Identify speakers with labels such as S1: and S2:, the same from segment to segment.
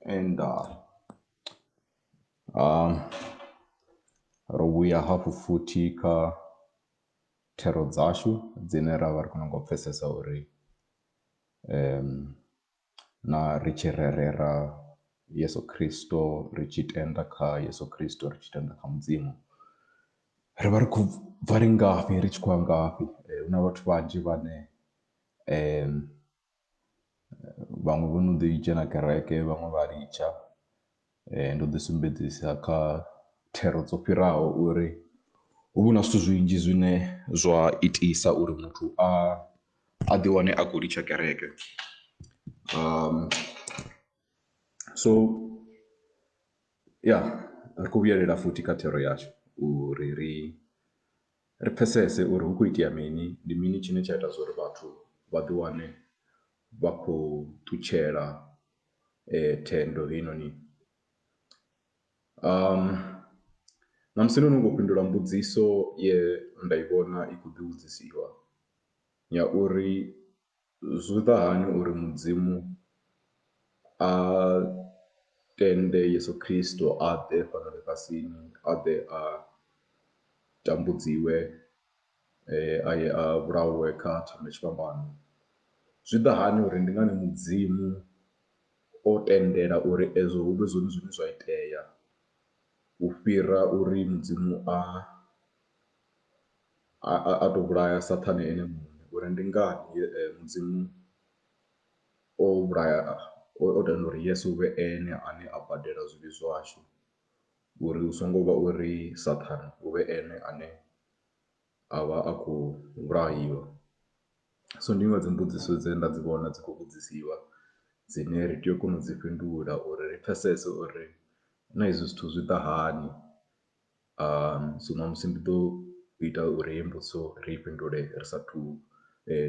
S1: and uh, um, ro vhuya hafhu futhi kha thero dzashu dzine ra vha ri kona ngo pfhesesa uri um na ri tshi rerela Yeso Khristo ri tshi tenda kha Yeso Khristo ri tshi tenda kha Mudzimu ri vha ri khou bva ri ngafhi ri tshi khou ya ngafhi. Hu na vhathu vhanzhi vhane vhaṅwe vho no ḓi dzhena kereke vhaṅwe vha litsha Ndo ḓi sumbedzisa kha thero dzo fhiraho uri hu vha hu na zwithu zwinzhi zwine zwa itisa uri muthu a a ḓi wane a khou litsha kereke. So ya ri khou vhuyelela futhi kha thero yashu uri ri ri pfhesese uri hu khou itea mini, ndi mini tshine tsha ita zwa uri vhathu vha ḓi wane vha khou ṱutshela. thendo heinoni. Ṋamusi no nongo fhindula mbudziso ye nda i vhona i khou ḓi vhudzisiwa ya uri zwi ḓa hani uri mudzimu a tende yeso khristo a ḓe fhano ḽifhasini a ḓe a tambudziwe. eh, a ye a vhulawe kha thanda tshifhambano zwi ḓa hani uri ndi ngani mudzimu o tendela uri ezwo hu vhe zwone zwine zwa itea u fhira uri mudzimu a a tou vhulaya saṱhane ene muṋe uri ndi ngani eh, mudzimu o vhulaya o tenda uri yesu vhe ene ane a badela zwivhi zwashu uri hu songo vha uri saṱhane u vhe ene ane a vha a khou vhulahiwa. So ndi iṅwe ya dzi mbudziso dze nda dzi vhona dzi khou vhudzisiwa dzine ri tea u kona u dzi fhindula uri ri pfhesese uri na hezwi zwithu zwi ḓa hani so ṋamusi ndi ḓo ita uri heyi mbudziso ri i fhindule ri sa thu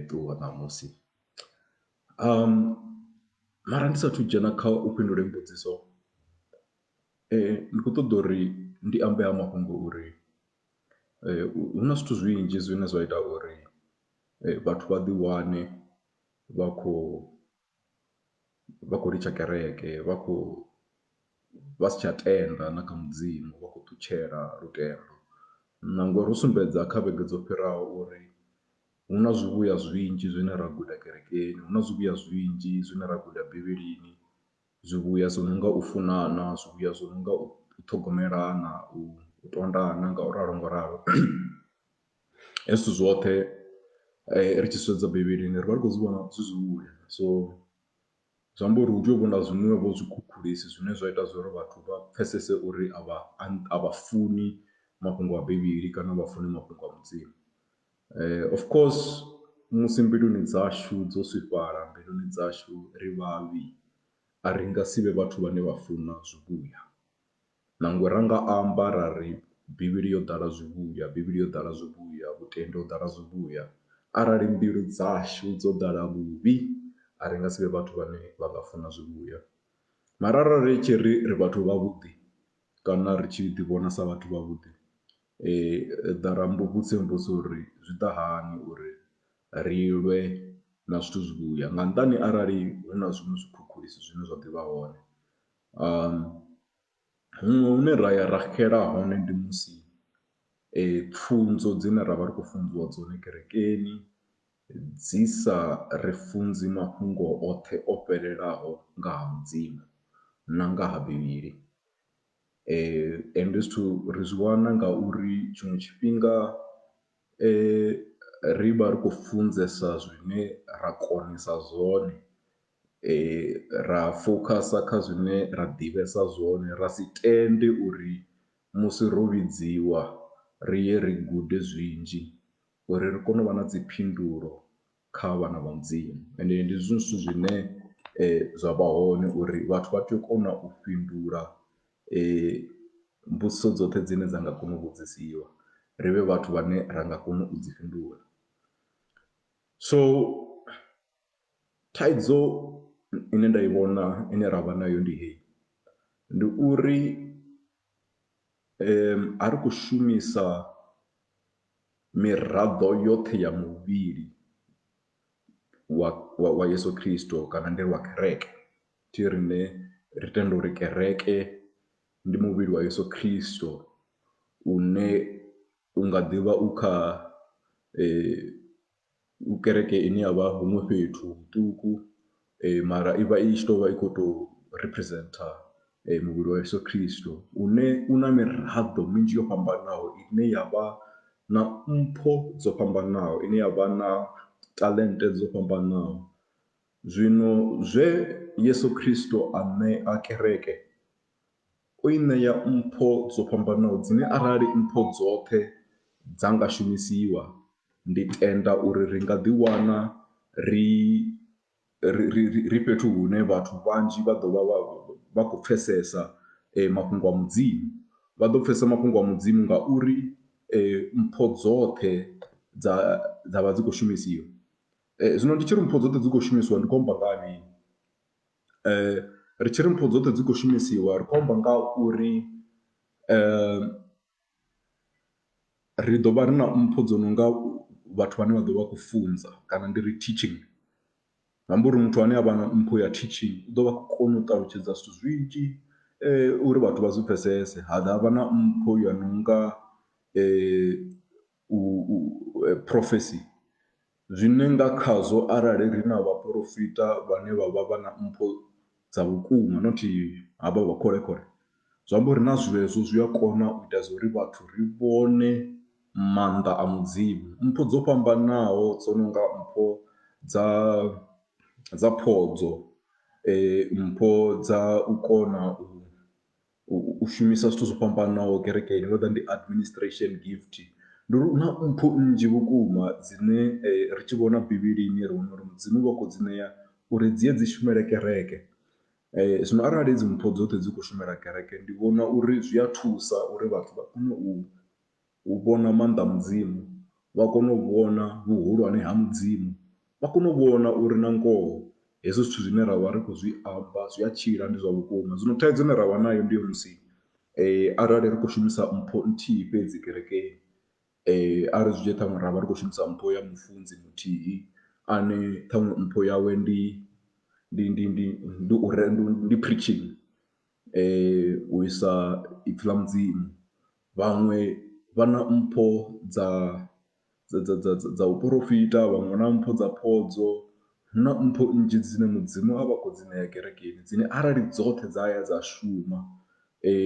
S1: ṱuwa ṋamusi. Mara ndi sa athu u dzhena kha u fhindula heyi mbudziso ndi khou ṱoḓa uri ndi ambe ha mafhungo uri Hu na zwithu zwinzhi zwine zwa ita uri vhathu vha ḓi wane vha khou vha khou litsha kereke vha khou vha si tsha tenda na kha mudzimu vha khou ṱutshela lutendo, na ngori ro sumbedza kha vhege dzo fhiraho uri hu na zwivhuya zwinzhi zwine ra guda kerekeni hu na zwivhuya zwinzhi zwine ra guda bivhilini. Zwivhuya zwo no nga u funana, zwivhuya zwo no nga u ṱhogomelana, u tondana nga u ralo ngo ralo. Hezwi zwithu zwoṱhe ri tshi sedza Bivhilini ri vha ri khou zwi vhona zwi zwivhuya, so zwi amba uri hu tea u vha na zwiṅwevho zwikhukhulisi zwine zwa ita zwa uri vhathu vha pfhesese uri a vha a vha funi mafhungo a Bivhili kana a vha funi mafhungo a Mudzimu. Of course musi mbiluni dzashu dzo swifhala mbiluni dzashu ri vhavhi a ri nga si vhe vhathu vhane vha funa zwivhuya nangwe ra nga amba ra ri Bivhili yo ḓala zwivhuya, Bivhili yo ḓala zwivhuya, vhutendi ho ḓala zwivhuya arali mbilu dzashu dzo ḓala vhuvhi a ri nga si vhe vhathu vhane vha nga funa zwivhuya. Mara arali ri tshi ri ri vhathu vha vhuḓi kana ri tshi ḓi vhona sa vhathu vha vhuḓi Ḓa ra mmbudza mbudzo uri zwi ḓa hani uri ri lwe na zwithu zwivhuya nga nnḓani arali hu na zwiṅwe zwikhukhulisi zwine zwa ḓivha hone. Huṅwe hune ra ya ra xela hone ndi musi pfhunzo dzine ra vha ri khou funziwa dzone kerekeni dzi sa ri funzi mafhungo oṱhe o fhelelaho nga ha mudzimu na nga ha Bivhili. Ende zwithu ri zwi wana nga uri tshiṅwe tshifhinga ri vha ri khou funzesa zwine ra konesa zwone, ra fokhasa kha zwine ra ḓivhesa zwone, ra si tende uri musi ro vhidziwa ri ye ri gude zwinzhi uri ri kone u vha na dzi phindulo kha vhana vha mudzimu ende ndi zwiṅwe zwithu zwine zwa vha hone uri vhathu vha tea u kona u fhindula mbudziso dzoṱhe dzine dza nga kona u vhudzisiwa ri vhe vhathu vhane ra nga kona u dzi fhindula. So thaidzo ine nda i vhona ine ra vha nayo ndi hei ndi uri a ri khou shumisa miraḓo yoṱhe ya muvhili wa wa wa Yeso Khristo kana ndi ri wa kereke thi riṋe ri tenda uri kereke ndi muvhili wa Yeso Khristo une u nga ḓivha u kha . u kereke ine ya vha huṅwe fhethu huṱuku mara i vha i tshi tou vha i khou tou representer muvhili wa Yeso Khristo une u na miraḓo minzhi yo fhambanaho ine ya vha na mpho dzo fhambanaho, ine ya vha na talent dzo fhambanaho. Zwino zwe Yeso Khristo a ṋea kereke. O i ṋea mpho dzo fhambanaho dzine arali mpho dzoṱhe dza nga shumisiwa, ndi tenda uri ri nga ḓiwana ri ri ri ri ri fhethu hune vhathu vhanzhi vha ḓo vha vha vha khou pfhesesa mafhungo a Mudzimu. Vha ḓo pfhesesa mafhungo a Mudzimu ngauri mpho dzoṱhe dza dza vha dzi khou shumisiwa. Zwino ndi tshi ri mpho dzoṱhe dzi khou shumisiwa ndi khou amba nga ha mini? Ri tshi ri mpho dzoṱhe dzi khou shumisiwa ri khou amba nga ha uri ri ḓo vha ri na mpho dzo no nga vhathu vhane vha ḓo vha khou funza kana ndi ri teaching. Zwi amba uri muthu ane a vha na mpho ya teaching u ḓo vha khou kona u ṱalutshedza zwithu zwinzhi uri vhathu vha zwi pfhesese, ha dovha ha vha na mpho ya no nga u, u, eh, prophecy, zwine nga khazwo arali ri na vhaporofita vhane vha vha vha na mpho dza vhukuma not havha vha kholekhole zwi amba uri na zwezwo zwi a kona u ita zwa uri vhathu ri vhone maanḓa a mudzimu mpho dzo fhambanaho dzo no nga mpho dza dza phodzo eh, mpho dza u kona u u shumisa zwithu zwo fhambanaho kerekeni ndo ḓa ndi administration gift ndi uri hu na mpho nnzhi vhukuma dzine ri tshi vhona Bivhilini ri wana uri Mudzimu u vha khou dzi ṋea uri dzi ye dzi shumele kereke. Zwino arali hedzi mpho dzoṱhe dzi khou shumela kereke ndi vhona uri zwi a thusa uri vhathu vha kone u. U vhona maanḓa a Mudzimu, vha kona u vhona vhuhulwane ha Mudzimu, vha kona u vhona uri na ngoho hezwi zwithu zwine ra vha ri khou zwi amba zwi a tshila, ndi zwa vhukuma. Zwino thaidzo ine ra vha nayo ndi yo musi arali ri khou shumisa mpho nthihi fhedzi kerekeni, a ri zwi dzhie ṱhaṅwe ra vha ri khou shumisa mpho ya mufunzi muthihi ane ṱhaṅwe mpho yawe ndi ndi ndi ndi ndi u re ndi preaching. u isa ipfhi ḽa mudzimu, vhaṅwe vha na mpho dza dza dza dza dza dza u porofita, vhaṅwe vha na mpho dza phodzo, hu na mpho nnzhi dzine mudzimu a vha khou dzi ṋea kerekeni dzine arali dzoṱhe dza ya dza shuma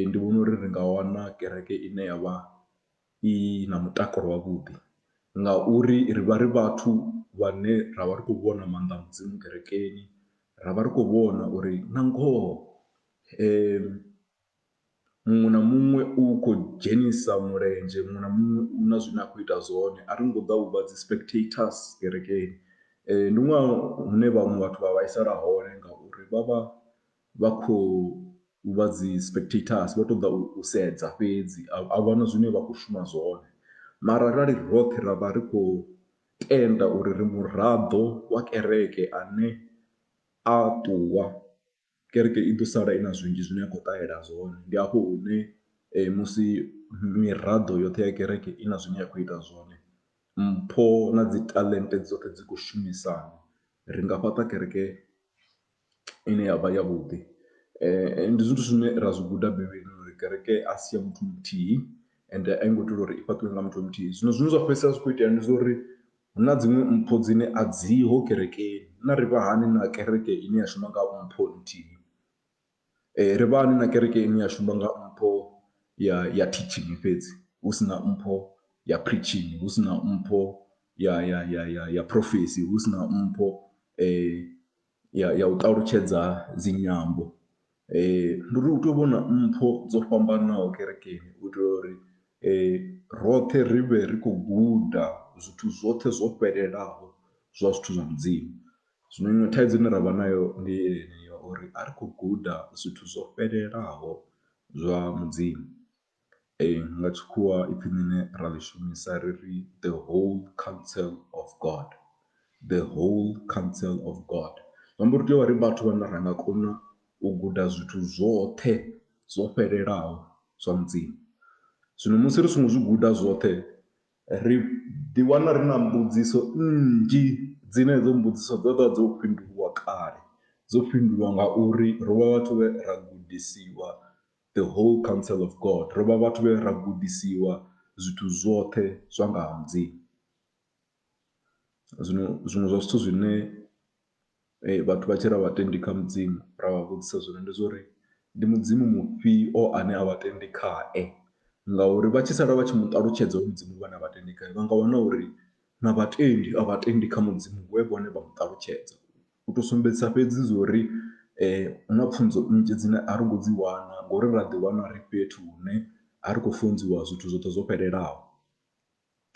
S1: ndi vhona uri ri nga wana kereke ine ya vha. i na mutakalo wavhuḓi ngauri ri vha ri vhathu vhane ra vha ri khou vhona maanḓa a mudzimu kerekeni ra vha ri khou vhona uri na ngoho muṅwe na muṅwe u khou dzhenisa mulenzhe muṅwe na muṅwe u na zwine a khou ita zwone a ri ngo ḓa uvha dzi spectators kerekeni ndi ṅwaha une vhaṅwe vhathu vha vhaisala hone ngauri vha vha. vha khou vha dzi spectators vho to ḓa u sedza fhedzi a vhona zwine vha khou shuma zwone mara arali roṱhe ra vha ri khou tenda uri ri muraḓo wa kereke ane a ṱuwa kereke i ḓo sala i na zwinzhi zwine a khou ṱahela zwone. Ndi hafho hune musi miraḓo yoṱhe ya kereke i na zwine ya khou ita zwone mpho na dzi taḽente dzoṱhe dzi khou shumisana ri nga fhaṱa kereke. ine yavha ya vhuḓi ndi zwithu zwine ra zwi guda Bivhilini uri kereke a si ya muthu muthihi ende a i ngo itelwa uri i fhaṱiwe nga muthu muthihi zwino zwine zwa fhedzisela zwi kho itea ndi zwa uri hu na dziṅwe mpho dzine a dziho kerekeni na ri vha hani na kereke ine ya shuma nga mpho nthihi ri vha hani na kereke ine ya shuma nga mpho ya ya teaching fhedzi hu si na mpho ya preaching hu si na mpho ya ya ya ya ya phurofesi hu si na mpho . ya ya u ṱalutshedza dzi nyambo ndi uri u tea u vha u na mpho dzo fhambanaho kerekeni u itela uri roṱhe ri vhe ri khou guda zwithu zwoṱhe zwo fhelelaho zwa zwithu zwa mudzimu. Zwino iṅwe thaidzo ine ra vha nayo ndi yeneyi ya uri a ri khou guda zwithu zwo fhelelaho zwa mudzimu. Ee, nga tshikhuwa ipfhi ḽine ra ḽi shumisa ri ri the whole counsel of God, the whole counsel of God. Zwi amba uri ri tea u vha ri vhathu vhane ra nga kona u guda zwithu zwoṱhe zwo fhelelaho zwa Mudzimu. Zwino musi ri songo zwi guda zwoṱhe ri ḓiwana ri na mbudziso nnzhi dzine hedzo mbudziso dzo vha dzo fhindulwa kale, dzo fhindulwa ngauri ro vha vhathu vhe ra gudisiwa. the whole counsel of God. Ro vha vhathu vhe ra gudisiwa zwithu zwoṱhe zwa nga ha Mudzimu. Zwino zwiṅwe zwa zwithu zwine eh, vhathu vha tshi ra vhatendi kha Mudzimu ra vha vhudzisa zwone ndi zwa uri ndi Mudzimu mufhio ane a vhatendi khae ngauri vha tshi sala vha tshi mu ṱalutshedza uri Mudzimu vhane a vhatendi khae vha nga wana uri na vhatendi a vhatendi kha Mudzimu we vhone vha mu ṱalutshedza. u to sumbedzisa fhedzi zwa uri hu na pfhunzo nnzhi dzine a ri ngo dzi wana ngori ra ḓi wana ri fhethu hune a ri khou funziwa zwithu zwoṱhe zwo fhelelaho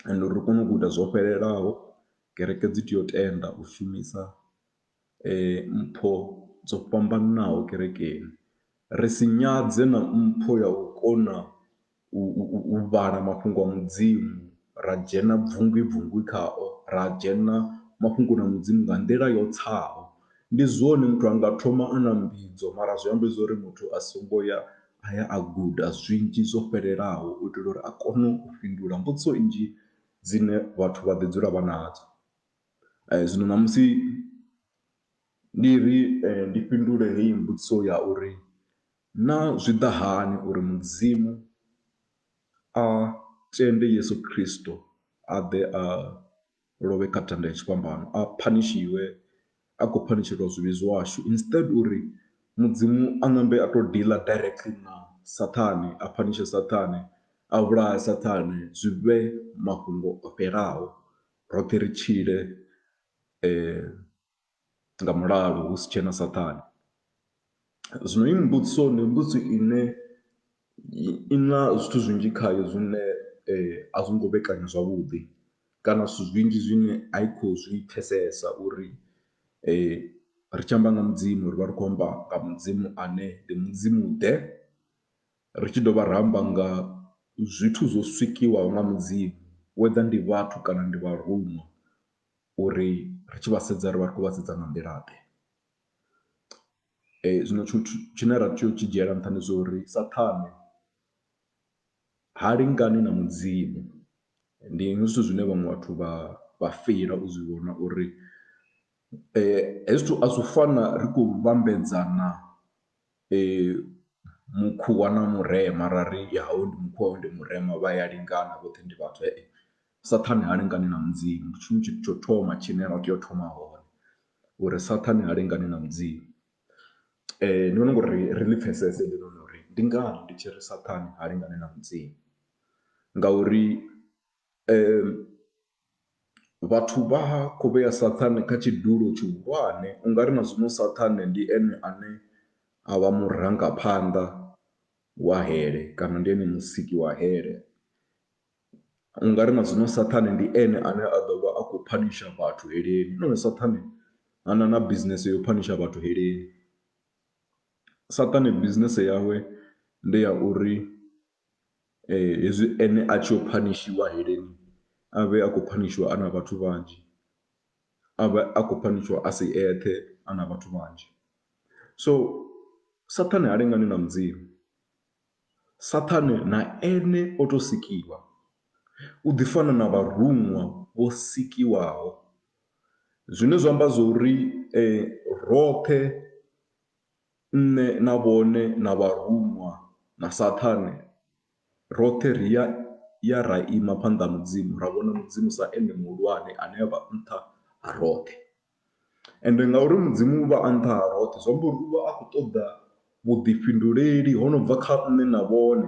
S1: and uri ri kone u guda zwo fhelelaho kereke dzi tea u tenda u shumisa mpho dzo fhambananaho kerekeni ri si nyadze na mpho ya u kona u, u, u vhala mafhungo a mudzimu ra dzhena bvungwi bvungwi khao ra dzhena mafhungoni a mudzimu nga nḓila yo tsaho ndi zwone muthu a nga thoma a na mbidzo mara zwi amba zwori muthu a songo ya a ya a guda zwinzhi zwo fhelelaho u itela uri a kone u fhindula mbudziso nnzhi dzine vhathu vha ḓi dzula vha nadzo zwino ṋamusi ndi ri ndi fhindule heyi mbudziso ya uri Naa zwi ḓa hani uri Mudzimu a tende Yesu Kristo a ḓe a lovhe kha thanda ya tshifhambano, a phanishiwe a khou phanishelwa zwivhi zwashu instead uri Mudzimu a ṋambe a to dealer directly na Saṱhane a phanishe Saṱhane a vhulahe Saṱhane zwi vhe mafhungo o fhelaho roṱhe ri tshile . nga mulalo hu si tshena Saṱhane. Zwino heyi mbudziso ndi mbudziso ine i na zwithu zwinzhi khayo zwine a zwi ngo vhekanywa zwavhuḓi kana zwithu zwinzhi zwine a i khou zwi pfhesesa uri ri tshi amba nga Mudzimu ri vha ri khou amba nga Mudzimu ane ndi Mudzimu-ḓe, ri tshi dovha ra amba nga zwithu zwo sikiwaho nga Mudzimu whether ndi vhathu kana ndi vharuṅwa. uri ri tshi vha sedza ri vha ri khou vha sedza nga nḓila-ḓe. Zwino tshithu tshine ra tea u tshi dzhiela nṱha ndi zwa uri Saṱhane ha lingani na Mudzimu, ndi hezwi zwithu zwine vhaṅwe vhathu vha vha feila u zwi vhona uri hezwi zwithu a zwi fani na ri khou vhambedzana. Mukhuwa na murema ra ri ya hoyu ndi mukhuwa hoyu ndi murema vha ya lingana vhoṱhe ndi vhathu saṱhane ha lingani na mudzimu ndi tshone tshithu tsho thoma tshine ra tea u thoma hone uri saṱhane ha lingani na mudzimu. Ndi vhona ungari ri ḽi pfhesese heinoni uri ndi ngani ndi tshi ri saṱhane ha lingani na mudzimu ngauri Vhathu vha khou vhea Saṱhane kha tshidulo tshihulwane, u nga ri na zwino Saṱhane ndi ene ane a vha murangaphanḓa wa hele kana ndi ene musiki wa hele. U nga ri na zwino Saṱhane ndi ene ane a ḓo vha a khou phanisha vhathu heleni, na hone Saṱhane ha na na bisinese ya u phanisha vhathu heleni. Saṱhane bisinese yawe ndi ya uri. Hezwi ene a tshi yo phanishiwa heleni a vhe a khou phanishiwa a na vhathu vhanzhi, a vhe a khou phanishiwa a si eṱhe a na vhathu vhanzhi. So Saṱhane ha lingani na Mudzimu, Saṱhane na ene o tou sikiwa, u ḓi fana na vharuṅwa vho sikiwaho zwine zwa amba zwo ri roṱhe. Nṋe na vhone na vharuṅwa na Saṱhane, roṱhe ri ya ya ra ima phanḓa ha Mudzimu ra vhona Mudzimu sa Ene Muhulwane ane a vha nṱha ha roṱhe. Ende ngauri Mudzimu u vha a nṱha ha roṱhe zwi amba uri u vha a khou ṱoḓa vhuḓifhinduleli ho no bva kha nṋe na vhone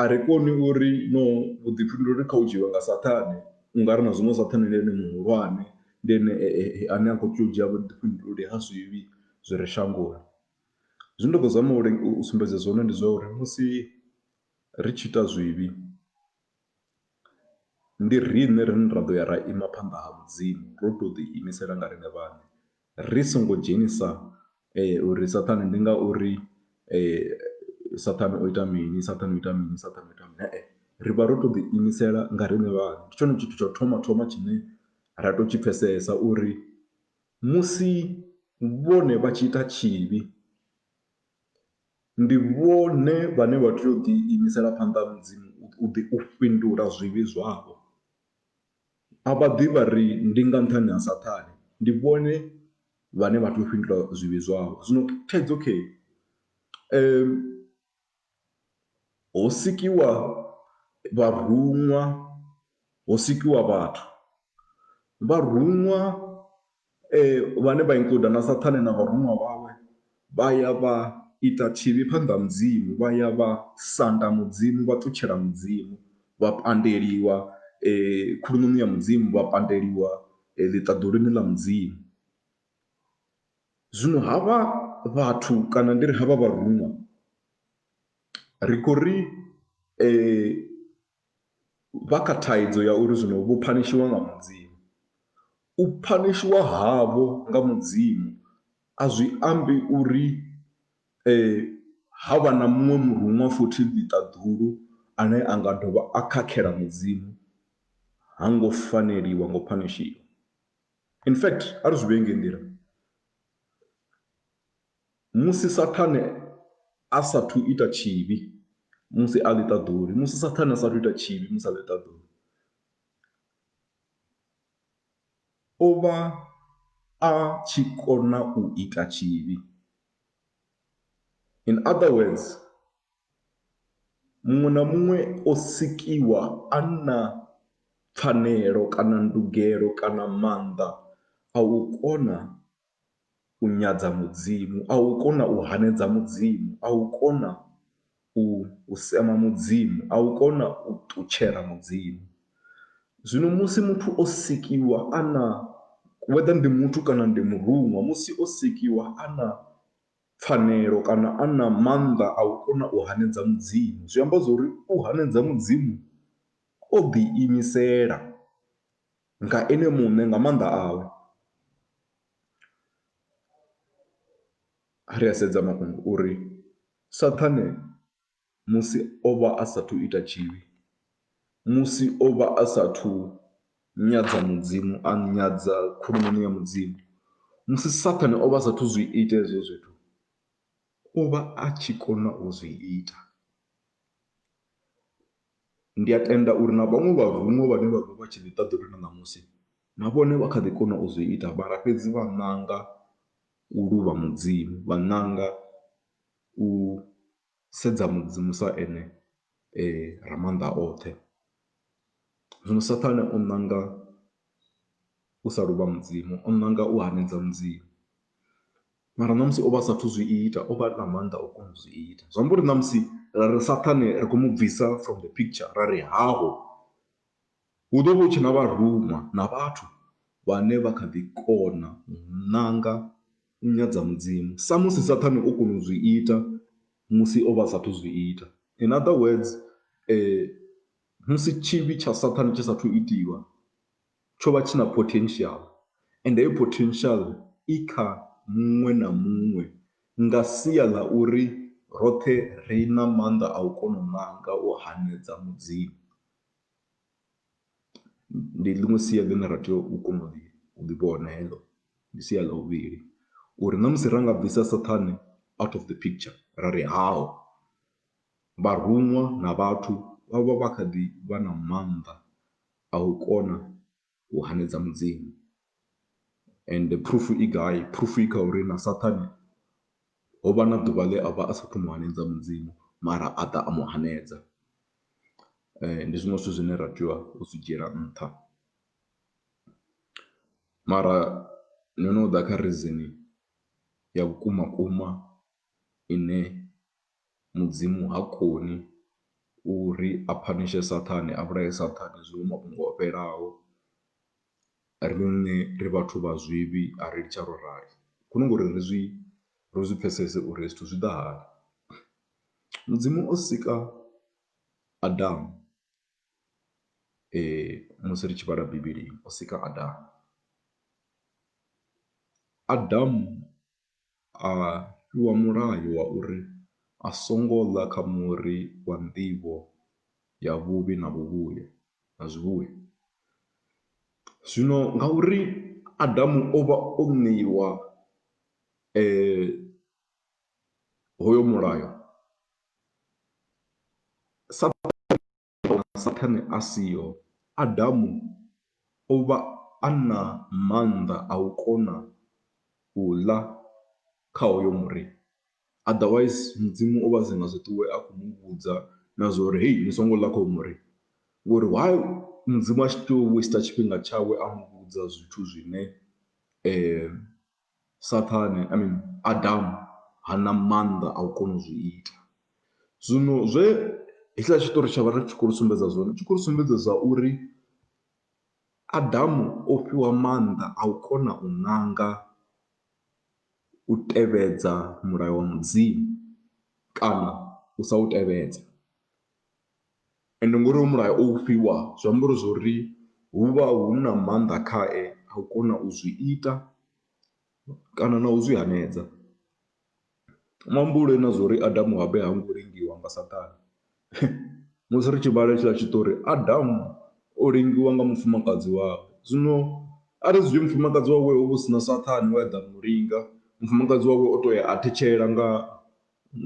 S1: A ri koni u ri no vhuḓifhinduleli kha u dzhiiwa nga Saṱhane u nga ri na zwino Saṱhane ndi ene muhulwane, ndi ene ane a khou tea u dzhia vhuḓifhinduleli ha zwivhi zwi re shangoni. Zwine nda ḓo zama u sumbedza zwone ndi zwa uri musi ri tshi ita zwivhi ndi riṋe rine ra ḓo ya ra ima phanḓa ha Mudzimu ro tou ḓiimisela nga riṋe vhaṋe. Ri songo dzhenisa uri Saṱhane ndi ngauri Saṱhane o ita mini, Saṱhane o ita mini, Saṱhane o ita mini, he-e. Ri vha ro tou ḓi imisela nga riṋe vhaṋe. Ndi tshone tshithu tsha u thoma thoma tshine ra tea u tshi pfhesesa uri musi vhone vha tshi ita tshivhi, ndi vhone vhane vha tea u ḓi imisela phanḓa ha Mudzimu u ḓi u fhindula zwivhi zwavho. A vha ḓi vha ri, Ndi nga nṱhani ha Saṱhane, ndi vhone vhane vha tea u fhindula zwivhi zwavho. Zwino thaidzo khe ho sikiwa vharuṅwa, ho sikiwa vhathu. Vharuṅwa Vhane vha inkuda na Saṱhane na vharuṅwa vhawe vha ya vha ita tshivhi phanḓa ha Mudzimu, vha ya vha sanda Mudzimu, vha ṱutshela Mudzimu, vha pandeliwa khuluṋoni ya Mudzimu, vha pandeliwa ḽiṱaḓuluni ḽa Mudzimu. Zwino havha vhathu kana ndi ri havha vharuṅwa ri khou ri. vha kha thaidzo ya uri zwino vho phanishiwa nga Mudzimu. U phanishiwa havho nga Mudzimu a zwi ambi uri ha vha na muṅwe muruṅwa futhi ḽiṱaḓulu ane a nga dovha a khakhela Mudzimu ha ngo faneliwa ngo phanishiwa. In fact a ri zwi vhee ngei nḓila. Musi Saṱhane a sa athu ita tshivhi musi a ḽiṱaḓulu, musi Saṱhane a sa athu ita tshivhi musi a ḽiṱaḓulu, o vha a tshi kona u ita tshivhi. In other words, muṅwe na muṅwe o sikiwa a na pfhanelo kana ndugelo kana maanḓa a u kona. u nyadza Mudzimu, a u kona u hanedza Mudzimu, a u kona u u sema Mudzimu, a u kona u ṱutshela Mudzimu. Zwino musi muthu o sikiwa a na whether ndi muthu kana ndi muruṅwa musi o sikiwa a na pfhanelo kana a na maanḓa a u kona u hanedza Mudzimu zwi amba zwori u hanedza Mudzimu o ḓi imisela. nga Ene muṋe, nga maanḓa awe. Ri a sedza mafhungo uri Saṱhane musi o vha a sa athu u ita tshivhi, musi o vha a sa athu u nyadza Mudzimu, a nyadza khuluṋoni ya Mudzimu, musi Saṱhane o vha a sa athu u zwi ita hezwo zwithu, o vha a tshi kona u zwi ita. Ndi a tenda uri na vhaṅwe vharuṅwa vhane vha vha vha tshi ḓi ḓa ḓoroboni na ṋamusi na vhone vha kha ḓi kona u zwi ita mara fhedzi vha ṋanga u luvha Mudzimu, vha ṋanga u sedza Mudzimu sa Ene Ramaanḓaoṱhe. Zwino Saṱhane o ṋanga u sa luvha Mudzimu, o ṋanga u hanedza Mudzimu. Mara ṋamusi o vha a sa athu zwi ita, o vha a na maanḓa o kona u zwi ita. Zwi amba uri ṋamusi ra ri Saṱhane ri khou mu bvisa from the picture ra ri haho, hu ḓo vha hu tshe na vharuma na vhathu vhane vha kha ḓi kona u ṋanga u nyadza Mudzimu samusi Saṱhane o kona u zwi ita musi o vha a sa athu zwi ita. In other words musi tshivhi tsha Saṱhane tshi sa athu itiwa tsho vha tshi na potential and heyo potential i kha muṅwe na muṅwe nga sia ḽa uri roṱhe ri na maanḓa a u kona u ṋanga u hanedza mudzimu. Ndi ḽiṅwe sia ḽine ra tea u kona u ḽi u ḽi vhona heḽo ndi sia ḽa vhuvhili uri na musi ra nga bvisa saṱhane out of the picture ra ri haho vharuṅwa na vhathu vha vha vha kha ḓi vha na maanḓa A u kona u hanedza Mudzimu ende proof i gai, proof i kha uri na Saṱhane ho vha na ḓuvha ḽe a vha a sa athu mu hanedza Mudzimu mara a ḓa a mu hanedza. Ndi zwiṅwe zwithu zwine ra tea u zwi dzhiela nṱha mara no no ḓa kha reason ya vhukuma vhukuma ine. Mudzimu ha koni uri a phanishe Saṱhane, a vhulaye Saṱhane zwiṅwe mafhungo o fhelaho. Riṋe ri vhathu vha zwivhi a ri litsha ro rali hu no nga uri ri zwi ri zwi pfhesese uri zwithu zwi ḓa hani. Mudzimu o sika Adamu musi ri tshi vhala Bivhilini o sika Adamu, Adamu. a fhiwa mulayo wa uri a songo ḽa kha muri wa nḓivho ya vhuvhi na vhuvhuya na zwivhuya. Zwino ngauri Adamu o vha o ṋeiwa hoyo mulayo sa . Vhunga Saṱhane a siho, Adamu o vha a na maanḓa a u kona u ḽa kha hoyo muri. Otherwise, Mudzimu o vha a si nga zwi ṱuwe a khou mu vhudza na zwa uri, Hei, ni songo ḽa kha hoyu muri. Ngori why Mudzimu a tshi tea u waster tshifhinga tshawe a mu vhudza zwithu zwine Saṱhane I mean Adamu ha na maanḓa a u kona u zwi ita. Zwino zwe hetshiḽa tshiṱori tsha vha ri tshi khou ri sumbedza zwone tshi khou ri sumbedza zwa uri Adamu o fhiwa maanḓa a u kona u ṋanga u tevhedza mulayo wa Mudzimu kana u sa u tevhedza. Ende ngori hoyu mulayo o ufhiwa zwi amba uri zwori huvha huna maanḓa khae a u kona u zwi ita kana nau zwi hanedza. Muhumbuloni na zwa uri Adamu habe hango lengiwa nga saṱhane musi ri tshi vhala hetshiḽa tshiṱori Adamu o lengiwa nga mufumakadzi wawe, zwino ari zwi dzhie mufumakadzi wawe hovha husina saṱhane we aḓa a mulinga mufumakadzi wawe o toya a thetshela nga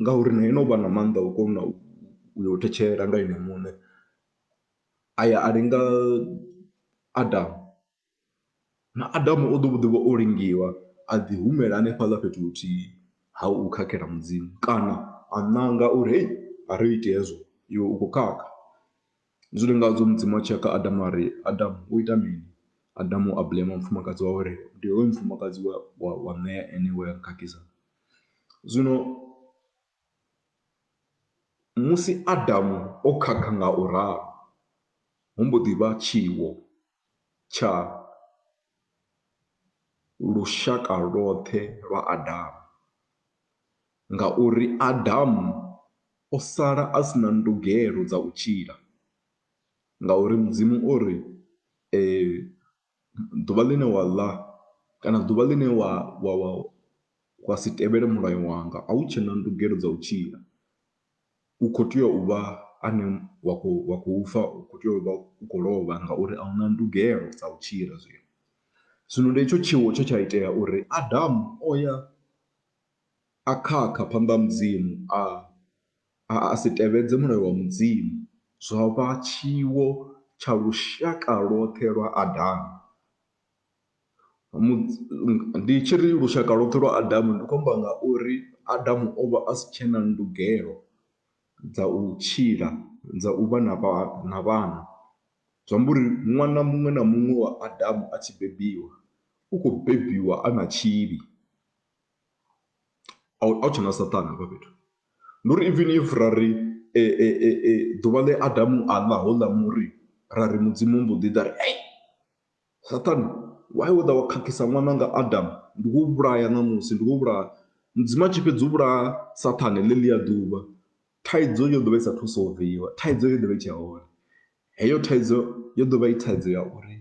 S1: Ngauri na ene u vha na maanḓa a u kona u yo thetshela nga ene muṋe, a ya a linga Adamu na Adamu o ḓo vho ḓi vha o lingiwa a ḓi humela hanefhaḽa fhethu huthihi ha u khakhela Mudzimu kana a ṋanga uri hei a ri iti hezwo iwe u khou khakha. Ndi zwone nga zwo Mudzimu a tshi ya kha Adamu a ri Adamu wo ita mini, Adamu a blame mufumakadzi wawe a ri ndi hoyu mufumakadzi wa wa wa ṋea ene we a nkhakhisa. Zwino musi Adamu o khakha nga u ralo hu mbo ḓi vha tshiwo tsha lushaka lwoṱhe lwa Adamu ngauri Adamu o sala a si na ndugelo dza u tshila ngauri Mudzimu o ri . ḓuvha ḽine wa ḽa kana ḓuvha ḽine wa wa wa wa si tevhele mulayo wanga a hu tshena ndugelo dza u tshila u kho tea u vha ane wa khou wa khou fa u kho tea u vha u khou lovha ngauri a huna ndugelo dza u tshila zwino. Zwino ndi hetsho tshiwo tshe tsha itea uri Adamu o ya a khakha phanḓa ha Mudzimu a. a a si tevhedze mulayo wa Mudzimu, zwa vha tshiwo tsha lushaka lwoṱhe lwa Adamu. Ndi tshi ri lushaka lwoṱhe lwa Adamu ndi khou amba nga uri Adamu o vha a si tshe na ndugelo dza u tshila dza u vha na vha na vhana, zwi amba uri ṅwana muṅwe na muṅwe wa Adamu a tshi bebiwa u khou bebiwa a na tshivhi. a hu tshena Saṱane hafha fhethu. Ndi uri even if ra ri ḓuvha ḽe Adamu a ḽa houḽa muri ra ri Mudzimu mbo ḓi ḓa a ri hei Saṱane why wo ḓa wa khakhisa ṅwananga Adamu, ndi khou u vhulaya ṋamusi, ndi khou u vhulaya. Mudzimu a tshi fhedza u vhulaya Saṱane ḽeḽia ḓuvha thaidzo yo ḓo vha i saathu u solviwa, thaidzo yo ḓo vha i tshe hone. Heyo thaidzo yo ḓo vha i thaidzo ya uri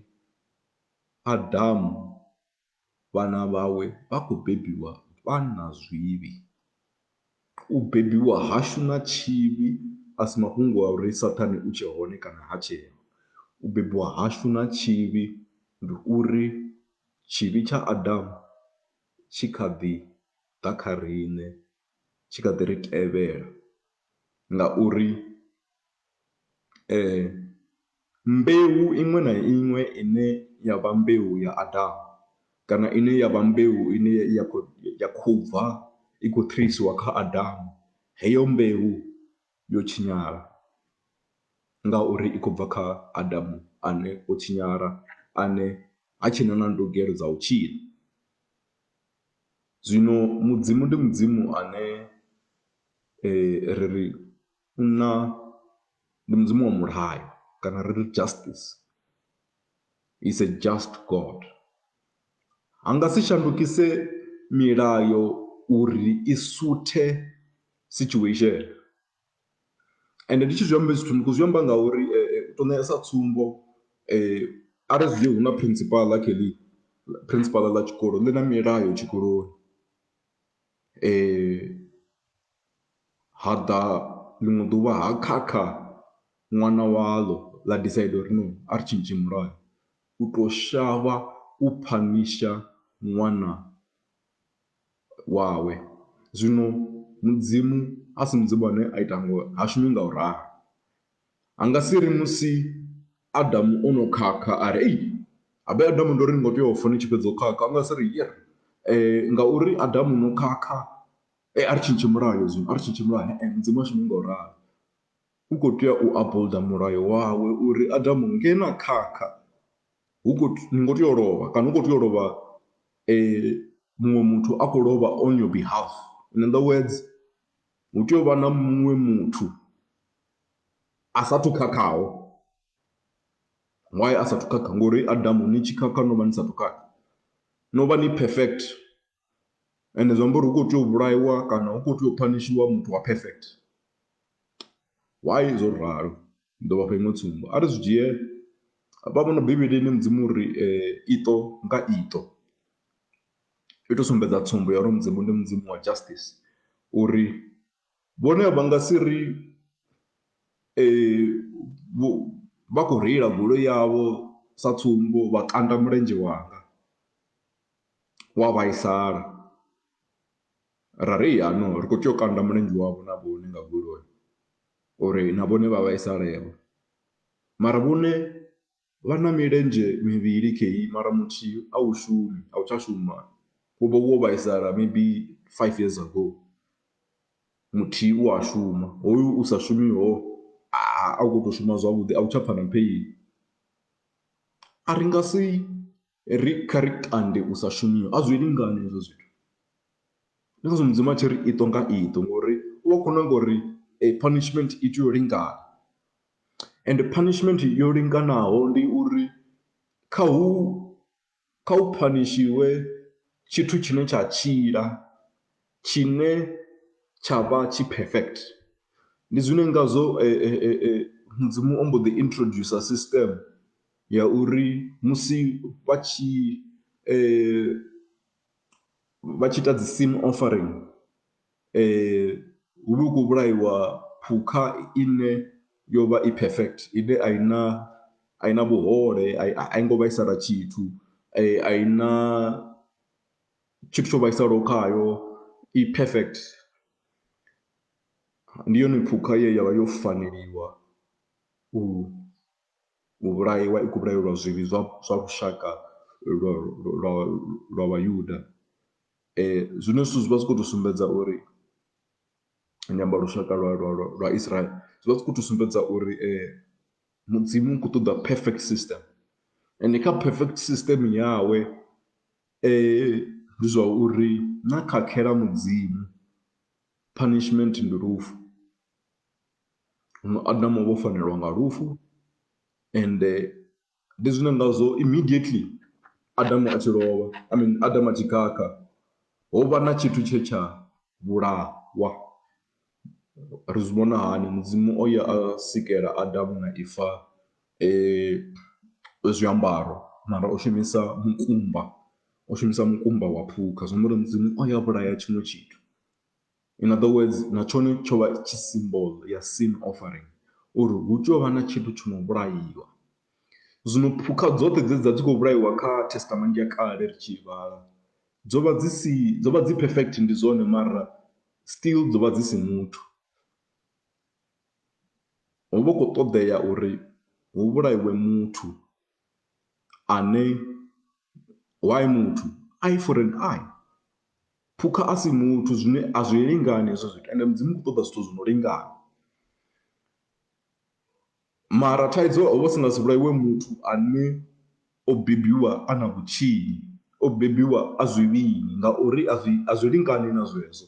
S1: Adamu. Vhana vhawe vha khou bebiwa vha na zwivhi. U bebiwa hashu na tshivhi a si mafhungo a uri Saṱhane u tshe hone kana ha tsheho. U bebiwa hashu na tshivhi ndi uri tshivhi tsha Adamu tshi kha ḓi ḓa kha riṋe, tshi kha ḓi ri tevhela ngauri. Mbeu iṅwe na iṅwe ine ya vha mbeu ya Adamu kana ine ya vha mbeu ine ya khou ya khou bva i khou thetshelesiwa kha Adamu heyo mbeu yo tshinyala ngauri i khou bva kha Adamu ane o tshinyala ane ha tshena na ndugelo dza u tshila. Zwino Mudzimu ndi Mudzimu ane ri ri. Munna ndi mudzimu wa mulayo kana ri ri justice, is a just God. A nga si shandukise milayo uri i suthe situation ende ndi tshi zwi amba hezwi zwithu ndi khou zwi amba ngauri u tou ṋea sa tsumbo a ri zwi dzhie hu na principal kha heḽi, principal ḽa tshikolo ḽi na milayo tshikoloni . ha ḓa ḽiṅwe ḓuvha ha khakha ṅwana waḽo ḽa decide uri no a ri tshintshe mulayo u to shavha u phanisha ṅwana wawe. Zwino mudzimu a si mudzimu ane a ita ngo ha shumi nga u ralo ha nga si ri musi Adamu o no khakha a ri ei habe Adamu ndo ri ni kho tea u fa ni tshi fhedza u khakha a nga si ri ngauri Adamu no khakha Ee, a ri tshintshe mulayo zwino, a ri tshintshe mulayo he-e Mudzimu ha shumi nga u ralo. U khou tea u upholder mulayo wawe uri Adamu nge na khakha hu khou, ni ngo tea u lovha kana hu khou tea u lovha muṅwe muthu a khou lovha on your behalf. In other words, hu tea u vha na muṅwe muthu a saathu u khakhaho. Why a saathu khakha? Ngo uri Adamu ni tshi khakha no vha ni saathu khakha, no vha ni perfect. ende zwi amba uri hu khou tea u vhulaiwa kana hu khou tea u phanishiwa muthu wa perfect. Why zwo ralo? Ndi ḓo vhafha iṅwe tsumbo, a ri zwi dzhie hafha fhano Bivhilini Mudzimu u ri iṱo nga iṱo, i tou sumbedza tsumbo ya uri Mudzimu ndi Mudzimu wa justice uri Vhone vha nga si ri vha khou reila goloi yavho sa tsumbo vha kanda mulenzhe wanga wa vhaisala ra ri ya no ri khou tea u kanda mulenzhe wavho na vhone nga goloi uri na vhone vha vhaisale vho mara vhone. Vha na milenzhe mivhili khei mara muthihi a u shumi a u tsha shuma wo vha wo vhaisala maybe five years ago muthihi u a shuma hoyu u sa shumiho a u kho to shuma zwavhuḓi a u tsha pfha na pheini a ri nga si. Ri kha ri kande u sa shumiwa a zwi lingani hezwo zwithu ndi ngazwo mudzimu a tshi ri iṱo nga iṱo ngori u vha u khou nanga uri punishment i tea u lingana ende punishment yo linganaho ndi uri kha hu kha hu phanishiwe tshithu tshine tsha tshila tshine tsha vha tshi perfect. Ndi zwine ngazwo mudzimu o mbo ḓi introducer system. ya uri musi vha tshi vha tshi ita dzi sim offering hu vha hu khou vhulaiwa phukha ine yo vha i perfect ine a i na a i na vhuhole, a i a i ngo vhaisala tshithu, a i na tshithu tsho vhaisalaho khayo, i perfect. Ndi yone phukha ye ya vha yo faneliwa u. U vhulaiwa, i khou vhulaelwa zwivhi zwa zwa lushaka lwa lwa lwa Vhayuda. Zwiṅwe zwithu zwi vha zwi khou tou sumbedza uri ndi amba lushaka lwa lwa lwa lwa Israel, zwi vha zwi khou tou sumbedza uri Mudzimu u khou ṱoḓa perfect system ende kha perfect system yawe ndi zwa uri na khakhela Mudzimu punishment ndi lufu. huno Adamu o vha o fanelwa nga lufu ende ndi zwine ngazwo immediately Adamu a tshi lovha I mean Adamu a tshi khakha ho vha na tshithu tshe tsha vhulahwa. Ri zwi vhona hani, Mudzimu o ya a sikela Adamu na Eva zwiambaro mara o shumisa mukumba, o shumisa mukumba wa phukha zwi amba uri Mudzimu o ya a vhulaya tshiṅwe tshithu. In other words, na tshone tsho vha tshi symbol ya sin offering uri hu tea u vha na tshithu tsho no vhulaiwa. Zwino phukha dzoṱhe dze dza dzi khou vhulaiwa kha Testament ya kale ri tshi vhala dzo vha dzi si dzo vha dzi perfect ndi zwone mara still dzo vha dzi si muthu. Ho vha hu khou ṱoḓea uri hu vhulaiwe muthu. ane why muthu eye for an eye, phukha a si muthu zwine a zwi lingani hezwo zwithu ende Mudzimu u khou ṱoḓa zwithu zwi no lingana. Mara thaidzo ho vha hu si nga si vhulaiwe muthu ane o bebiwa a na vhutshinyi, o bebiwa a zwivhili ngauri a zwi a zwi lingani na zwezwo.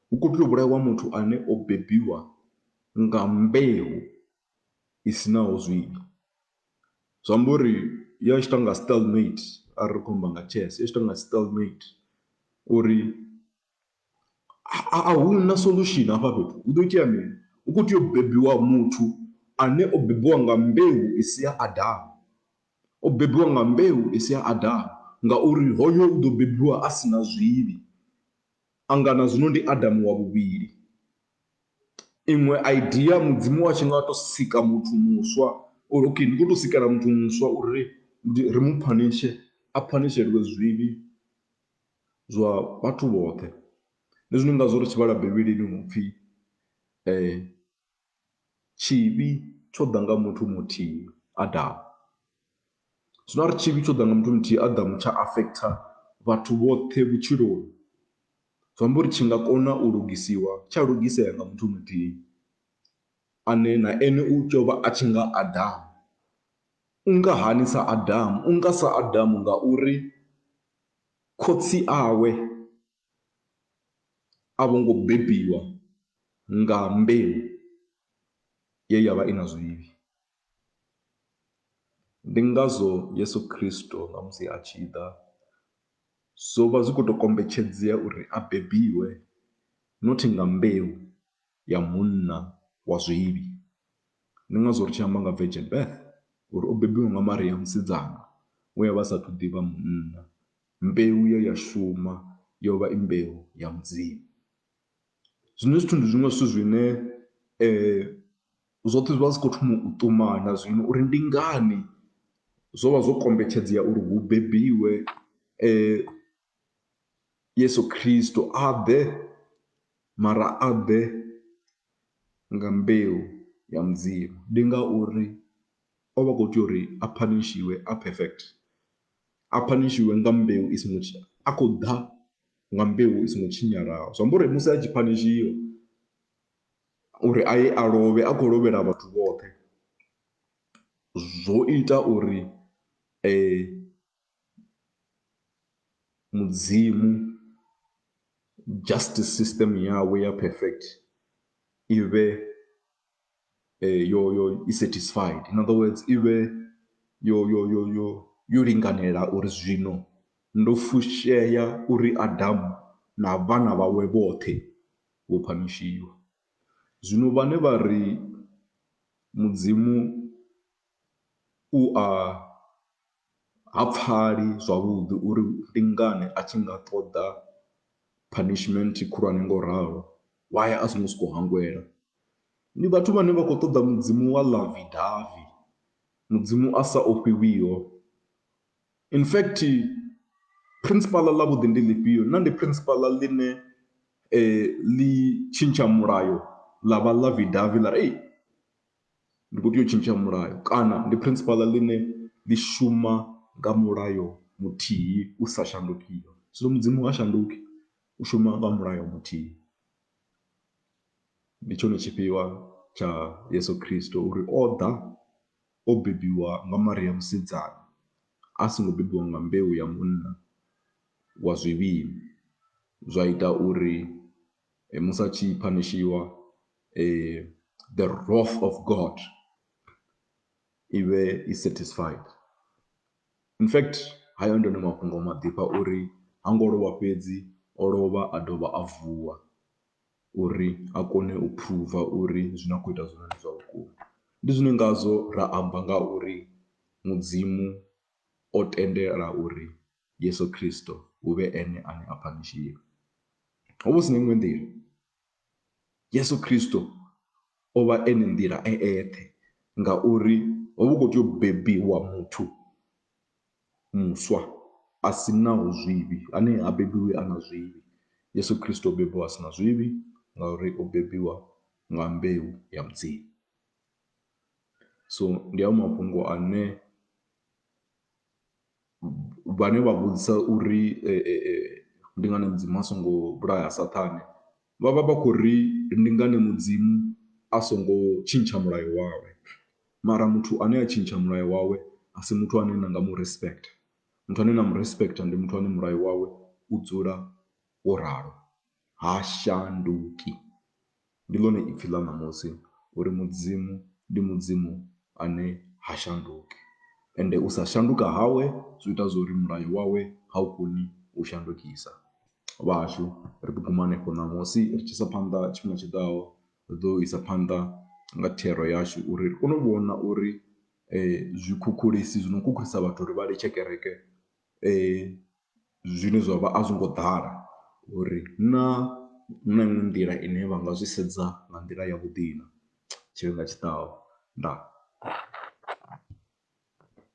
S1: Hu khou tea u vhulaiwa muthu ane o bebiwa nga mbeu i si naho zwivhi. Zwi amba uri ya tshi tou nga style mate arali ri khou amba nga chess i tshi tou nga style mate uri a hu na solution hafha fhethu hu ḓo itea mini, hu khou tea u bebiwa muthu ane o bebiwa nga mbeu i si ya Adamu, o bebiwa nga mbeu i si ya Adamu ngauri hoyo u ḓo bebiwa a si na zwivhi, a nga na zwino ndi Adamu wa vhuvhili. iṅwe idea mudzimu wa tshi nga tou sika muthu muswa or okay ndi khou tou sikela muthu muswa uri ndi ri mu phanishe a phanisheliwe zwivhi zwa vhathu vhoṱhe. Ndi zwine ngazwo ri tshi vhala Bivhilini hu pfhi tshivhi tsho ḓa nga muthu muthihi Adamu. Zwino arali tshivhi tsho ḓa nga muthu muthihi Adamu tsha affecter vhathu vhoṱhe vhutshiloni zwi amba uri tshi nga kona u lugisiwa tsha lugisela nga muthu muthihi ane na ene u tea u vha a tshi nga Adamu. U nga hani sa Adamu? U nga sa Adamu ngauri khotsi awe a vho ngo bebiwa nga mbeu ye ya vha i na zwivhi. Ndi ngazwo Yeso Khristo na musi a tshi ḓa zwo vha zwi khou tou kombetshedzea uri a bebiwe not nga mbeu ya munna wa zwivhi, ndi ngazwo ri tshi amba nga virgin birth uri o bebiwa nga Maria musidzana we a vha a saathu ḓivha munna. Mbeu ye ya shuma yo vha i mbeu ya Mudzimu, zwino zwithu ndi zwiṅwe zwithu zwine Zwoṱhe zwi vha zwi khou thoma u ṱumana zwino uri ndi ngani zwo vha zwo kombetshedzea uri hu bebiwe Yesu Khristo, a ḓe mara a ḓe nga mbeu ya Mudzimu. Ndi ngauri o vha a khou tea uri a phanishiwe a perfect, a phanishiwe nga mbeu i songo, a khou ḓa nga mbeu i songo tshinyalaho. Zwi amba uri musi a tshi phanishiwa uri a ye a lovhe a khou lovhela vhathu vhoṱhe zwo ita uri mudzimu justice system yawe ya perfect i vhe yo yo i satisfied, in other words i vhe yo yo yo yo yo linganela uri zwino ndo fushea uri Adamu na vhana vhawe vhoṱhe. vho phanishiwa. Zwino vhane vha ri Mudzimu u a ha pfali zwavhuḓi uri ndi ngani a tshi nga ṱoḓa punishment khulwane ngo ralo, why a songo sokou hangwela. Ndi vhathu vhane vha khou ṱoḓa Mudzimu wa ḽavi davhi, Mudzimu a sa ofhiwiho. In fact principal ḽa vhuḓi ndi ḽifhio na ndi principal ḽine ḽi tshintsha mulayo ḽa vha ḽa vhi davhi ḽa ri ndi kho tea u tshintsha mulayo kana ndi principal ḽine ḽi shuma nga mulayo muthihi u sa shandukiho. Zwino mudzimu ha shanduki u shuma nga mulayo muthihi ndi tshone tshifhiwa tsha yeso khristo uri o ḓa o bebiwa nga Maria musidzana, a songo bebiwa nga mbeu ya munna wa zwivhili, zwa ita uri musi a tshi phanishiwa the wrath of God i vhe i satisfied. In fact, hayo ndi one mafhungo a maḓifha uri ha ngo lovha fhedzi, o lovha a dovha a vuwa. uri a kone u phuruva uri zwine a khou ita zwone ndi zwa vhukuma. Ndi zwine ngazwo ra amba nga uri Mudzimu o tendela uri Yesu Kristo hu vhe ene ane a phanishiwa. Ho vha hu si na iṅwe nḓila, Yesu Kristo o vha e na nḓila e eṱhe ngauri ho vha hu khou tea u bebiwa muthu muswa a si naho zwivhi, ane ha bebiwi a na zwivhi. Yesu Kristo o bebiwa a si na zwivhi ngauri o bebiwa nga mbeu ya Mudzimu. So ndi hayo mafhungo ane vhane vha vhudzisa uri ndi ngani Mudzimu a songo vhulaya Saṱhane Vha vha vha khou ri, Ndi ngani Mudzimu a songo tshintsha mulayo wawe? Mara muthu ane a tshintsha mulayo wawe a si muthu ane na nga mu respecter. Muthu ane na mu respecter ndi muthu ane mulayo wawe u dzula wo ralo, ha shanduki. Ndi ḽone ipfi ḽa ṋamusi uri Mudzimu ndi Mudzimu ane ha shanduki. Ende u sa shanduka hawe zwi ita zwo ri mulayo wawe ha u koni u shandukisa. vhashu ri ḓi guma hanefho ṋamusi ri tshi isa phanḓa tshifhinga tshi ḓaho ri ḓo isa phanḓa nga thero yashu uri ri kone u vhona uri zwikhukhulisi zwi no khukhulisa vhathu uri vha litshe kereke zwine zwa vha a zwi ngo ḓala uri na hu na iṅwe nḓila ine vha nga zwi sedza nga nḓila yavhuḓi na tshifhinga tshi ḓaho. Ndaa.